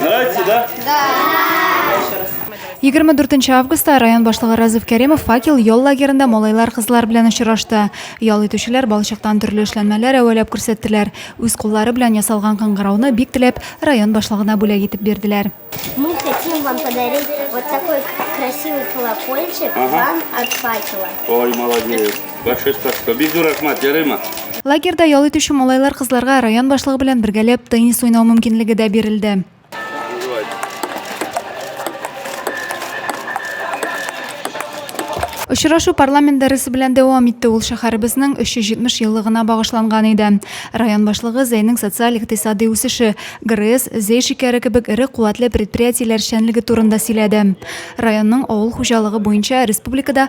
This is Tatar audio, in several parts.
Нравится, да? Да. 24 августта район башлыгы Разыф Кәримов факел ял лагерында малайлар кызлар белән очрашты. Ял итүчеләр балчыктан төрле эшләнмәләр әвәләп күрсәттеләр. Үз куллары белән ясалган кыңгырауны бик теләп район башлыгына бүләк итеп бирделәр. Мы хотим вам подарить вот такой красивый колокольчик ага. вам от факела. Ой, молодец. Большое спасибо. Бик зур рәхмәт, ярыймы? Лагерьда ял итүче малайлар кызларга район башлыгы белән бергәләп теннис уйнау мөмкинлеге дә бирелде. Очрашу парламент дәресе белән дәвам итте. Ул шәһәребезнең 370 еллыгына багышланган иде. Район башлыгы Зәйнең социаль-икътисади үсеше, ГРЭС, Зәй шикәре кебек эре куәтле предприятиеләр эшчәнлеге турында сөйләде. Районның авыл хуҗалыгы буенча республикада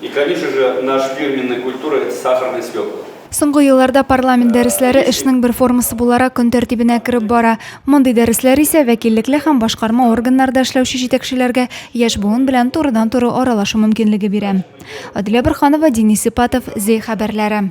И конечно же, наш фирменный культура это сахарный свекла. Соңгы елларда парламент дәресләре эшнең бер формасы буларак көн тәртибенә кереп бара. Мондый дәресләр исә вәкиллекле һәм башкарма органнарда эшләүче җитәкчеләргә яшь буын белән турыдан-туры аралашу мөмкинлеге бирә. Аделя Борханова, Денис Сипатов, Зи хәбәрләре.